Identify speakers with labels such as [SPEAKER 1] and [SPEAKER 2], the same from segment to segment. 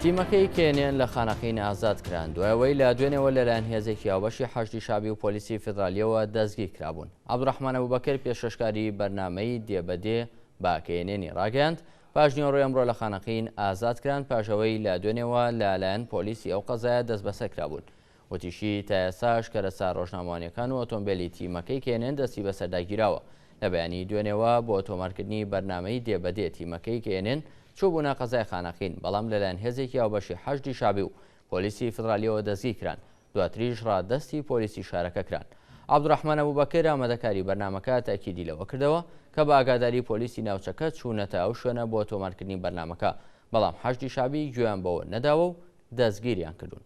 [SPEAKER 1] تیمەکەی کێنێن لە خانەقین ئازاد کران دوای ئەوەی لە دوێنێەوە لەلایەن هێزێکی هاوبەشی حەشدی شابی و پۆلیسی فیدراالیەوە دەستگیر کرابوون عبدڕحمانە بوبەکر پێشەشکاری بەرنمەی دێبەدێ با کێنێنی ڕاگەاند پاشنیۆڕۆ ئەمڕۆ لە خانەقین ئازاد کران پاشەوەی لە دوێنێەوە لەلایەن پۆلیسی ئەو قەزایە دەست بەسەر کرابوون وتیشی، تا ئێستاش کەرەستە رۆژنامەوانییەکان و ئۆتۆمبێلی تیمەکەی کەیەنێن دەستی بەسەردا گیراوە، لە بەیانیی دوێنێوە بۆ تۆمارکردنی بەرنامەی دێ بە دێ تیمەکەی کەیەنێن چووبوونە قەزای خانەقین، بەڵام لەلایەن هێزێکی هاوبەشی حەشدی شەعبی و پۆلیسی فیدرالییەوە دەستگیرکران، دواتریش رادەستی پۆلیسی شارەکە کران. عەبدولرەحمان ئەبوبەکر، ئامادەکاری بەرنامەکە تەئکیدی لەوە کردەوە، کە بە ئاگاداری پۆلیسی ناوچەکە چوونەتە ئەو شوێنە بۆ تۆمارکردنی بەرنامەکە، بەڵام حەشدی شەعبی گوێیان بەوە نەداوە و دەستگیریان کردوون.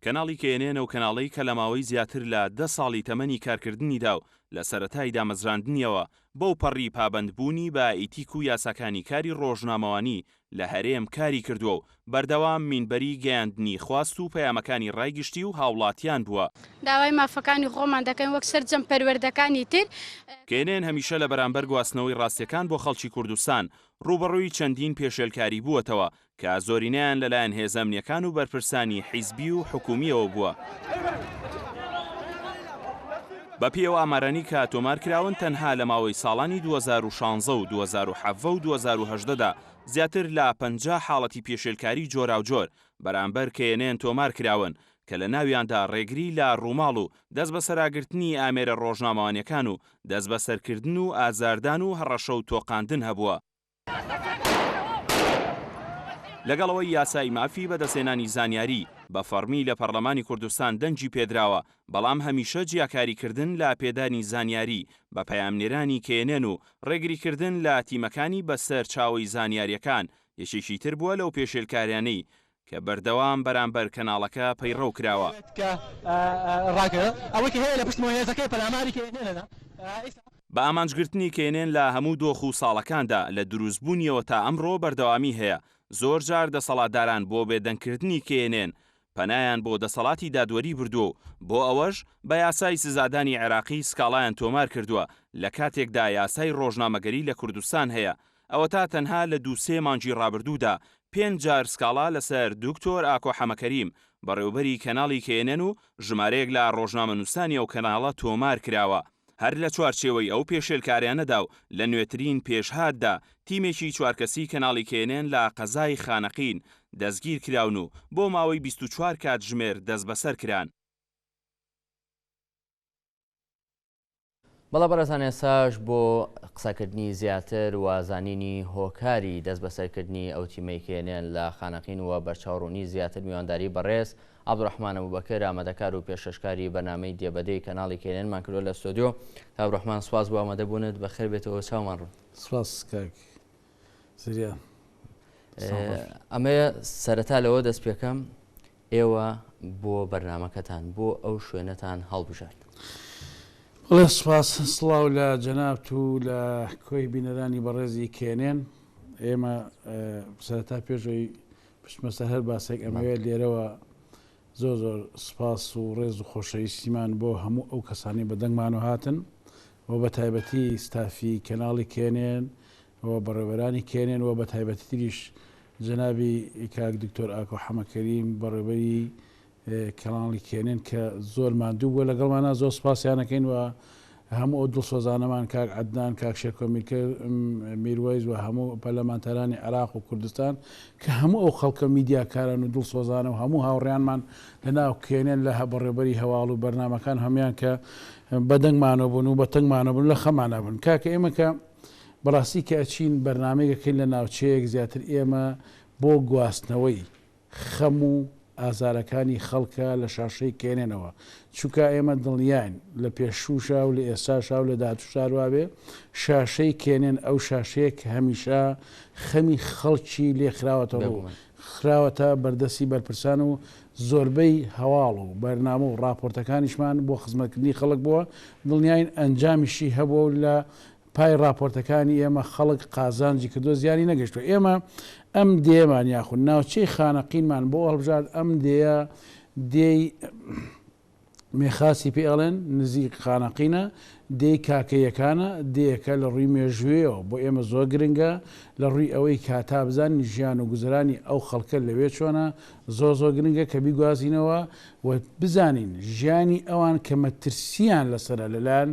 [SPEAKER 2] کەناڵی کێنێن ئەو کەناڵەی کە لە ماوەی زیاتر لە دە ساڵی تەمەنی کارکردنیدا و لە سەرەتای دامەزراندنیەوە بەو پەڕی پابەند بوونی بە ئیتیک و یاساکانی کاری ڕۆژنامەوانی لە هەرێم کاری کردووە و بەردەوام مینبەری گەیاندنی خواست و پەیامەکانی ڕای گشتی و هاوڵاتیان بووە. داوای مافەکانی
[SPEAKER 3] خۆمان دەکەین وەک سەرجەم پەروەردەکانی تر. کێنێن هەمیشە
[SPEAKER 2] لە بەرامبەر گواستنەوەی ڕاستیەکان بۆ خەڵکی کوردستان ڕووبەڕووی چەندین پێشێلکاری بووەتەوە کە زۆرینەیان لەلایەن هێزە ئەمنییەکان و بەرپرسانی حیزبی و حکوومییەوە بووە. بەپێی ئەو ئامارانەی کە تۆمار کراون، تەنها لە ماوەی ساڵانی دوو هەزار و شانزە و دوو هەزار و حەڤە و دوو هەزار و هەژدە دا زیاتر لە پەنجا حاڵەتی پێشێلکاری جۆراوجۆر بەرامبەر کەیەنێن تۆمار کراون کە لە ناویاندا ڕێگری لە ڕووماڵ و دەستبەسەراگرتنی ئامێرە ڕۆژنامەوانیەکان و دەستبەسەرکردن و ئازاردان و هەڕەشە و تۆقاندن هەبووە، لەگەڵ ئەوەی یاسای مافی بەدەستهێنانی زانیاری بە فەڕمی لە پەڕلەمانی کوردستان دەنگی پێدراوە، بەڵام هەمیشە جیاکاریکردن لە پێدانی زانیاری بە پەیامنێرانی کەێنێن و ڕێگریکردن لە تیمەکانی بەسەر چاوەی زانیاریەکان یەکێکی تر بووە لەو پێشێلکاریانەی کە بەردەوام بەرامبەر کەناڵەکە پەیڕەو کراوە. بە ئامانجگرتنی کێنێن لە هەموو دۆخ و ساڵەکاندا، لە دروستبوونیەوە تا ئەمڕۆ بەردەوامی هەیە، زۆر جار دەسەڵاتداران بۆ بێدەنگکردنی کێنێن، پەنایان بۆ دەسەڵاتی دادوەری بردووە و بۆ ئەوەش بە یاسای سزادانی عێراقی سکاڵایان تۆمار کردووە، لە کاتێکدا یاسای ڕۆژنامەگەری لە کوردستان هەیە، ئەوەتا تەنها لە دوو سێ مانگی ڕابردوودا پێنج جار سکاڵا لەسەر دکتۆر ئاکۆ حەمەکەریم، بەڕێوەبەری کەناڵی کەیەنەن و ژمارەیەک لە ڕۆژنامەنووسانی ئەو کەناڵە تۆمار کراوە. هەر لە چوارچێوەی ئەو پێشێلکاریانەدا و لە نوێترین پێشهاتدا، تیمێکی چوار کەسی کەناڵی کەیەنەن لە قەزای خانەقین دەستگیر کراون و بۆ ماوەی بیست و چوار کاتژمێر دەستبەسەر کران.
[SPEAKER 1] بەڵێ بەڕێزان ئێساش بۆ قسەکردنی زیاتر و زانینی هۆکاری دەست بەسەرکردنی ئەو تیمەی کێنێن لە خانەقین و بەرچاوڕوونی زیاتر میوانداری بەڕێز عبدڕحمان ئەبوبەکر ئامادەکار و پێشەشکاری بەنامەی دێبەدەی کەناڵی کێنێنمان کردو لە ستۆدیۆ تابڕحمان سواز بۆ ئامادەبوونت بەخێر بێتەوە چاومان ڕوون سواز کاک ئەمەیە سەرەتا لەوە دەست پێکەم ئێوە بۆ بەرنمەکەتان بۆ ئەو شوێنەتان هەڵبژارد.
[SPEAKER 4] بڵێ سوپاس سڵاو لە جەنابت و لە کۆی بینەرانی بەڕێزی کێنێن ئێمە سەرەتا پێشەوەی پشتمەسە هەر باسێک ئەمەوێت لێرەوە زۆر زۆر سوپاس و ڕێز و خۆشەویستیمان بۆ هەموو ئەو کەسانەی بە دەنگمان و هاتن و بە تایبەتی ستافی کەناڵی کێنێن و بەڕێوەرانی کێنێن و بە تایبەتی تریش جەنابی کاک دکتۆر ئاکۆ حەمەکەریم بەڕێوەری کەناڵی کێنێن کە زۆر ماندوو بووە لەگەڵمانە زۆر سوپاسیانەکەین و هەموو ئەو دڵسۆزانەمان کاک عەدنان، کاک شێرکۆ میرکر، م، میروەیس و هەموو پەرلەمانتارانی عێراق و کوردستان کە هەموو ئەو خەڵکە و میدیاکاران و دڵسۆزانە و هەموو هاوڕێیانمان لە ناو کێنێن لە بەڕێوبەری هەواڵ و بەرنامەکان هەموویان کە بە دەنگمانەوە بوون و بە تەنگمانەوە بوون و لە خەمانا بوون کاکە ئێمە کە بەڕاستی کە ئەچین بەرنامەیەک ئەکەین لە ناوچەیەک زیاتر ئێمە بۆ گواستنەوەی خەم و ئازارەکانی خەڵکە لە شاشەی کێنێنەوە چونکا ئێمە دڵنیاین لە پێشووشا و لە ئێستاشا و لە داهاتووش هەر وا بێ شاشەی کێنێن ئەو شاشەیە کە هەمیشە خەمی خەڵکی لێ خراوەتە ڕوو خراوەتە بەردەستی بەرپرسان و زۆربەی هەواڵ و بەرنامە و ڕاپۆرتەکانیشمان بۆ خزمەتکردنی خەڵک بووە دڵنیاین ئەنجامیشی هەبووە و لە پای ڕاپۆرتەکانی ئێمە خەڵک قازانجی کردووە زیانی نەگەشتووە، ئێمە ئەم دێیەمان یاخود ناوچەی خانەقینمان بۆ هەڵبژارد، ئەم دێیە دێی مێخاسی پێ ئەڵێن، نزیک خانەقینە، دێی کاکەییەکانە، دێیەکە لە ڕووی مێژوویەوە بۆ ئێمە زۆر گرنگە، لە ڕووی ئەوەی کە تا بزانین ژیان و گوزەرانی ئەو خەڵکە لەوێ چۆنە زۆر زۆر گرنگە کە بیگوازینەوە و بزانین ژیانی ئەوان کە مەترسییان لەسەرە لەلایەن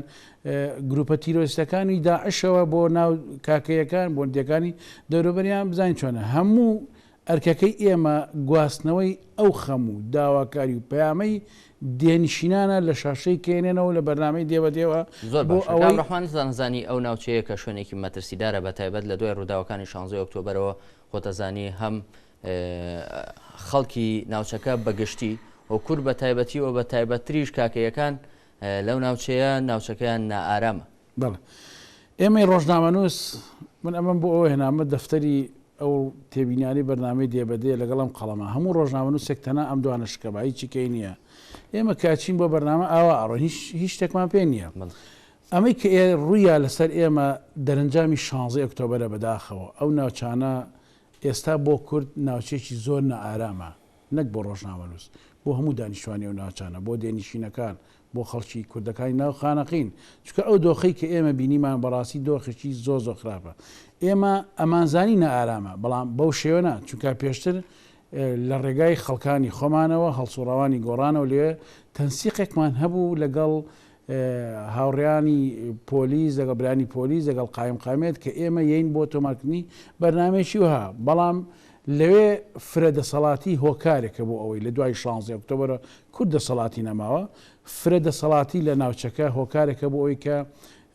[SPEAKER 4] گروپە تیرۆریستەکانی داعشەوە بۆ ناو کاکەیەکان بۆندیەکانی دەوروبەریان بزانین چۆنە هەموو ئەرکەکەی ئێمە گواستنەوەی ئەو خەم و داواکاری و پەیامەی دێنشینانە لە شاشەی کێنێنەوە لە بەرنامەی دێوەدێوە زۆر بۆ ئەوەی
[SPEAKER 1] ڕحمان زانزانی ئەو ناوچەیە کە شوێنێکی مەترسیدارە بە تایبەت لە دوای ڕووداوەکانی شانزۆی ئۆکتۆبرەوە خۆتەزانی هەم خەڵکی ناوچەکە بەگشتی و کورد بە تایبەتی و بە تایبەتتریش کاکەیەکان لەو ناوچەیە ناوچەکەیان نائارامە. بەڵێ
[SPEAKER 4] ئێمەی ڕۆژنامەنووس من ئەمەم بۆ ئەوە هێنامە دەفتەری ئەو تێبینیانەی بەرنامەی دێ بە دێ لەگەڵ ئەم قەڵەمە هەموو ڕۆژنامەنووسێک تەنها ئەم دوانە شکە بە هیچی کەی نییە ئێمە کە ئەچین بۆ بەرنامە ئاوا ئەڕۆین هیچ هیچ شتێکمان پێ نییە ئەمەی کە ئێ ڕوویا لەسەر ئێمە دەرەنجامی 16 ئۆکتۆبەرە بەداخەوە ئەو ناوچانە ئێستا بۆ کورد ناوچەیەکی زۆر نائارامە نەک بۆ ڕۆژنامەنووس، بۆ هەموو دانیشتوانی ئەو ناوچانە، بۆ دێنشینەکان، بۆ خەڵکی کوردەکانی ناو خانەقین، چونکە ئەو دۆخەی کە ئێمە بینیمان بەڕاستی دۆخێکی زۆر زۆر خراپە. ئێمە ئەمانزانی نائارامە، بەڵام بەو شێوە نا، چونکە پێشتر لە ڕێگای خەڵکانی خۆمانەوە، هەڵسووڕاوانی گۆڕانەوە لەوێ تەنسیقێکمان هەبوو لەگەڵ هاوڕێیانی پۆلیس لەگەڵ برانی پۆلیس لەگەڵ قایم قامێت کە ئێمە یەین بۆ تۆمارکردنی بەرنامەیەکی وەها بەڵام لەوێ فرە دەسەڵاتی هۆکارێکە بۆ ئەوەی لە دوای 16 ئۆکتۆبەرە کورد دەسەڵاتی نەماوە فرە دەسەڵاتی لە ناوچەکە هۆکارێکە بۆ ئەوی کە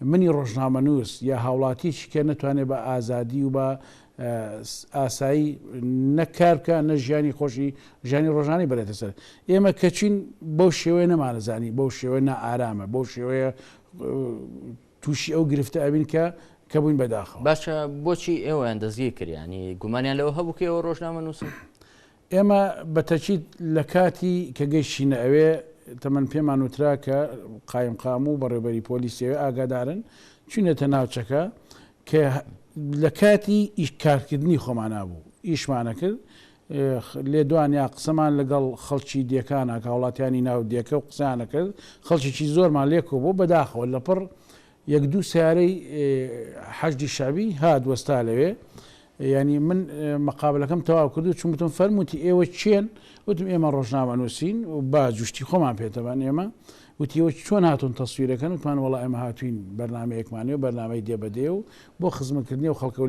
[SPEAKER 4] منی ڕۆژنامەنووس یا هاوڵاتیش کە نەتوانێت بە ئازادی و بە ئاسایی نە کار بکە نە ژیانی خۆشی ژیانی ڕۆژانەی بەرێتە سەر ئێمە کەچین بەو شێوەیە نەمانەزانی بەو شێوەیە نائارامە بەو شێوەیە تووشی ئەو گرفتە ئەبین کە کە بووین بەداخەوە باشە بۆچی
[SPEAKER 1] ئێوەیان دەستگیر کردیانی گومانیان لەوە هەبوو کە ئێوە ڕۆژنامە نووسن ئێمە
[SPEAKER 4] بە تەکید لە کاتی کە گەیشتینە ئەوێ تەمەن پێمان وترا کە قایمقام و بەڕێوبەری پۆلیسی ئەوێ ئاگادارن، چوینەتە ناوچەکە کە لە کاتی ئیش کارکردنی خۆمانا بوو ئیشمان ئەکرد، لێدوانیا قسەمان لەگەڵ خەڵکی دێکاناک هاوڵاتیانی ناو دێکە و قسەیان ئەکرد، خەڵکێکی زۆرمان لێ کۆبوو بەداخەوە لەپڕ یەک دوو سەیارەی حەشدی شەعبی هات وەستا لەوێ یانی من مەقابلەکەم تەواو کرد و چون وتم فەرمووتی ئێوە کێن وتم ئێمە ڕۆژنامە نووسین و با جوشتی خۆمان پێتەبان ئێمە وتیەوە چۆن هاتون تەسویرەکەن وتمان وڵا ئێمە هاتوین بەرنمەیەکمانێ و بەرنمەی دێ بەدێ و بۆ خزمکردنی و خەڵکە و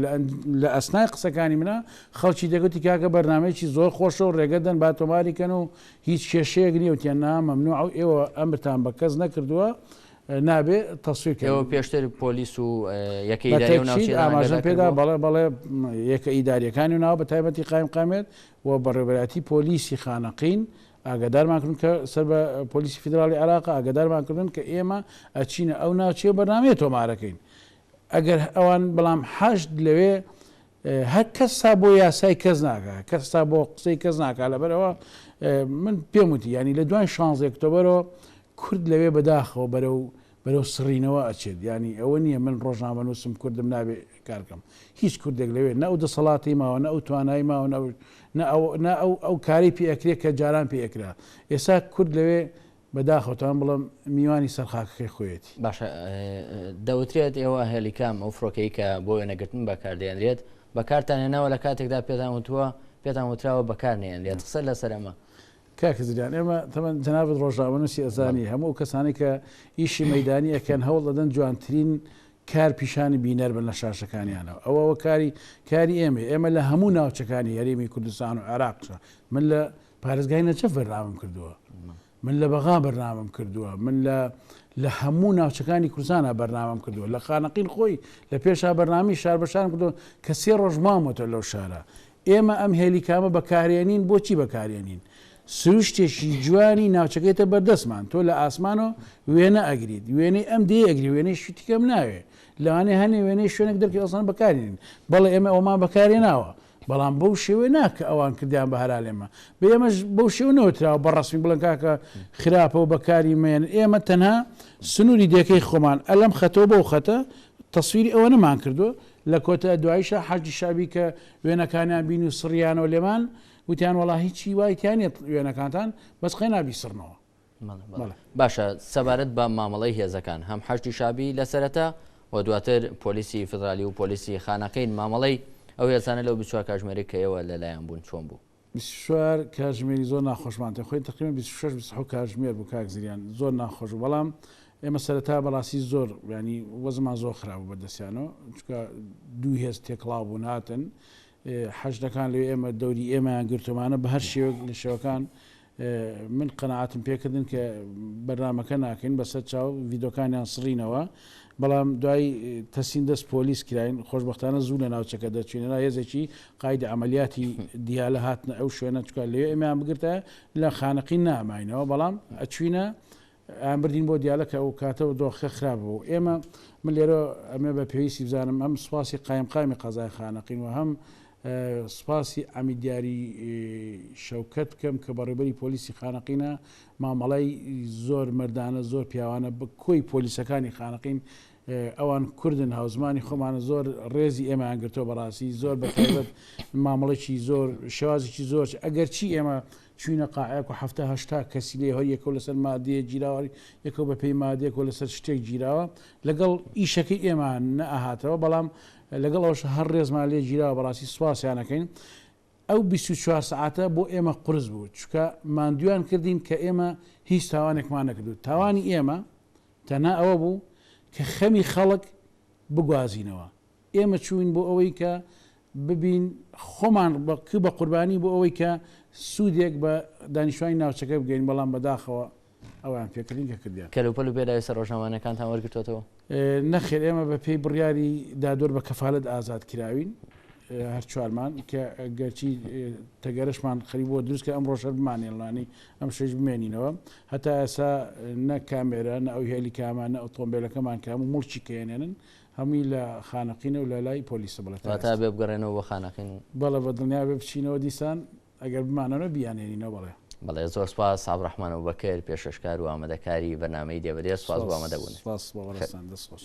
[SPEAKER 4] لە ئەسنای قسەکانی منە خەڵکی دەگوتی کاکە بەرنمەیەکی زۆر خۆشە و ڕێگەدەن با تۆماریکەن و هیچ کێشەیەک نیە وتیان نا مەمنوع و ئێوە ئەمرتان بە کەس نەکردووە نابێ تەسویر کەن. ئێوە پێشتر پۆلیس
[SPEAKER 1] و یەکە ئیداریی ئەو ناوچەیەتان ئاگادار کردبوو؟ بە تەئکید
[SPEAKER 4] ئاماژەم پێدا بەڵێ بەڵێ یەکە ئیدارییەکانی و ناوە بە تایبەتی قایمقامیەت و بەڕێوەبەرایەتی پۆلیسی خانەقین ئاگادارمان کردن کە سەر بە پۆلیسی فیدراڵی عێراقە ئاگادارمان کردن کە ئێمە ئەچینە ئەو ناوچەیە و بەرنامەیە تۆمارەکەین ئەگەر ئەوان بەڵام حەشد لەوێ هە کەس تا بۆ یاسای کەس ناکا کەس تا بۆ قسەی کەس ناکا لەبەرەوە من پێم وتی یانی لە دوای شانزەی ئۆکتۆبەرەوە کورد لەوێ بەداخەوە بەرەو بەرەو سڕینەوە ئەچێت یانی ئەوە نییە من ڕۆژنامە نووسم کوردم نابێ کارکەم هیچ کوردێک لەوێ نە ئەو دەسەڵاتی ماوە نە ئەو توانای ماوە نە ئەو نە ئەو ئەو کارەی پێ ئەکرێت کە جاران پێ ئەکرا ئێستا کورد لەوێ بە داخەوتان بڵێم میوانی سەر خاکەکەی خۆیەتی. باشە
[SPEAKER 1] دەوترێت ئێوە هێلیکام ئەو فرۆکەی کە بۆ وێنەگرتن بەکار دێنرێت بەکارتان هێناوە لە کاتێکدا پێتان وتووە پێتان وتراوە بەکار نێنرێت قسە لەسەر ئەمە. کاک زریان
[SPEAKER 4] ئێمە تەمەن جەنابت ڕۆژنامەنووسی ئەزانی هەموو ئەو کەسانەی کە ئیشی مەیدانی ئەکەن هەوڵ دەدەن جوانترین کار پیشانی بینەر بن لە شاشەکانیانەوە ئەوە ئەوە کاری کاری ئێمەی ئێمە لە هەموو ناوچەکانی هەرێمی کوردستان و عێراقشە من لە پارێزگای نەجەف بەرنامەم کردووە من لە بەغا بەرنامەم کردووە من لە لە هەموو ناوچەکانی کوردستانە بەرنامەم کردووە لە خانەقین خۆی لە پێشا بەرنامی شار بەشان کردو کە سێ ڕۆژ مامەتە لەو شارە ئێمە ئەم هێلی کامە بەکارێنین بۆچی بەکارێنین سروشتێکی جوانی ناوچەکەیتە بەردەستمان تۆ لە ئاسمانەوە وێنە ئەگریت وێنەی ئەم دێ ئەگری وێنەی شتیکەم ناوێ لەوانێ هەنێ وێنەی شوێنێک دەرکی ئەسان بەکارێنین بەڵێ ئێمە ئەومان بەکارێ ناوە بەڵام بەو شێوەیە نا کە ئەوان کردیان بە هەرالێمان بێ ئێمەش بەو شێوە نەوتراوە بە ڕەسمی بڵێن کاکە خراپە و بەکاری مەیەن ئێمە تەنها سنووری دێکەی خۆمان ئە لەم خەتەوە بەو خەتە تەسویری ئەوەنەمان کردووە لە کۆتە دواییشە حەشدی شەعبی کە وێنەکانیان بین و سڕیانەوە لێمان وتیان وەڵا هیچی وای تیان نێت وێنەکانتان بەس قەینا بیسڕنەوە باشە
[SPEAKER 1] سەبارەت بە مامەڵەی هێزەکان هەم حەشدی شابی لە سەرەتا و دواتر پۆلیسی فدرالی و پۆلیسی خانەقین مامەڵەی ئەو هێزانە لەو بچوار کاژمێری کەیەوە لەلایەن بوون چۆن بوو؟ بیسوار
[SPEAKER 4] کاژمێری زۆر ناخۆشمان تێ خۆی تقریبا 26 27 کاژمێر بوو کاک زریان زۆر ناخۆش بەڵام ئێمە سەرەتا بەڕاستی زۆر ینی وەزمان زۆر خراپ بەدەستیانەوە چکە دوو هێز تێکڵاو بوون هاتن حەشدەکان لێ ئێمە دەوری ئێمەیان گرتومانە بە هەر شێوەک لە شێوەکان من قەناعەتم پێکردن کە بەرنامەکە ناکەین بەسەر چاو ڤیدۆکانیان سڕینەوە بەڵام دوای تەسین دەست پۆلیس کراین خۆشببختانە زوو لە ناوچەکە دەچینەنا هێزێکی قایدی ئەعملیاتی دیالە هاتنە ئەو شوێنە چکە لێ ئەمیان بگرتە لە خانەقی ناماینەوە بەڵام ئەچوینە ئان بردین بۆ دیالە کە ئەوکاتە دۆخەکە خراپ بوو ئێمە من لێرە ئەمێ بە پێویستی بزانم هەم سوپاسی قایمقامی قەزای خانەقین و هەم سوپاسی ئەمی دیاری شەوکەت بکەم کە بەڕێبەری پۆلیسی خانەقینە مامەڵای زۆر مردانە زۆر پیاوانە بە کۆی پۆلیسەکانی خانەقین ئەوان کوردن هاوزمانی خۆمانە زۆر ڕێزی ئێمەیان گرتۆ بەڕاستی زۆر بەتابەت مامەڵێکی زۆر شێوازێکی زۆر ئەگەر چی ئێمە چوینە قاعەیەک و حەفتا هەشتا کەسی لێ هەر یەکەو لەسەر مادەیەک گیراوە هەر یەکەو بە پێی مادەیەک و لەسەر شتێک گیراوە لەگەڵ ئیشەکەی ئێمە نە ئەهاتەوە بەڵام لەگەڵ ئەوەشا هەر ڕێزمان لێ گیراوە بەڕاستی سوپاسیان ئەکەین ئەو بیست و چوار سەعاتە بۆ ئێمە قورس بوو چونکە ماندویان کردین کە ئێمە هیچ تاوانێکمان نەکردو تاوانی ئێمە تەنها ئەوە بوو کە خەمی خەڵک بگوازینەوە ئێمە چووین بۆ ئەوەی کە ببین خۆمان ک بە قوربانی بۆ ئەوەی کە سوودێک بە دانیشتوانی ناوچەکە بگەین بەڵام بەداخەوە ئەوان پێکردین کە کردیان. کەلوپەل و پێداویستە
[SPEAKER 1] ڕۆژنامەوانەکانتان وەرگرتۆتەوە؟ نەخێر ئێمە
[SPEAKER 4] بە پێی بڕیاری دادوەر بە کەفالەت ئازاد کراوین هەر چوارمان کە گەرچی تەگەرەشمان خەری بۆ دروست کە ئەم ڕۆژەر بمانێڵانی ئەم شش بمێنینەوە هەتا ئێسا نە کامێرە نە ئەو هێلی کامانە ئۆتۆمبیلەکەمان کام و مڵکی کێنێنن هەمووی لە خانەقینە و لە لای پۆلیسە بەڵێ تا ئێستا. واتە ئەبێ بگەڕێنەوە
[SPEAKER 1] بۆ خانەقین و. بەڵێ بە دڵنیا ئەبێ
[SPEAKER 4] بچینەوە دیسان ئەگەر بمانەوە بیانێنینەوە بەڵێ. بەڵێ زۆر سپاس
[SPEAKER 1] عەبدوڕەحمان ئەبوبەکر پێشکەشکار
[SPEAKER 4] و
[SPEAKER 1] ئامادەکاری بەرنامەی دێ بەدێ
[SPEAKER 4] سپاس
[SPEAKER 1] بۆ ئامادە بوونت.
[SPEAKER 4] سپاس
[SPEAKER 1] سپاس بۆ ئێوەشتان
[SPEAKER 4] دەست
[SPEAKER 1] خۆش.